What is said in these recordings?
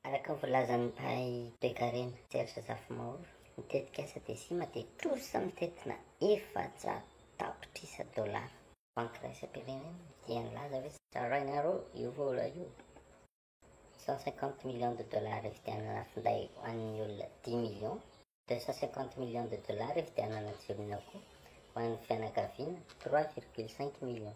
Araka ny volazan'ny mpahay toekarena, Serge Razafimahory, ny tetikasa Decima dia trosa mitentina efajato tapitrisa dolara. Banky iraisam-pirenena dia nilaza hoe zarainareo io vola io. Cent cinquante millions de dollars ividianana finday ho an'ny olona dimy millions, deux cent cinquante millions de dollars ividianana jiro ny akoho ho an'ny fianakaviana trois virgule cinq millions.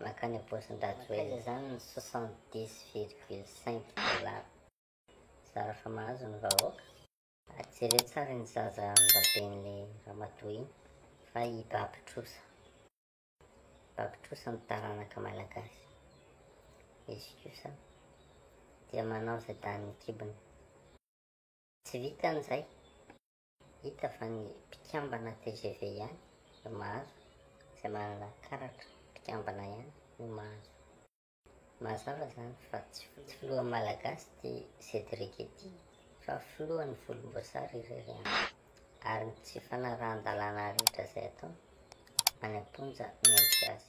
Nankany am-paosin-dRajoelina izany ny soixante dix virgule cinq dollars. Zara fa mahazo ny vahoaka. Jereo tsara iny zaza noraben'le ramatoa iny fa hibaby trosa. Hibaby trosa ny taranaka malagasy. Izy kosa dia manao izay danin'ny kibony. Tsy vitany izay. Hita fa ny mpikambana tgv ihany no mahazo, izay manana karatra mpikambana ihany no mahazo. Mazava izany fa tsy filoha malagasy ity Cédric ity fa filohan'ny volomboasary irery ihany, ary ny tsy fanarahan-dalàna rehetra izay ataony any am-ponja mendrika azy.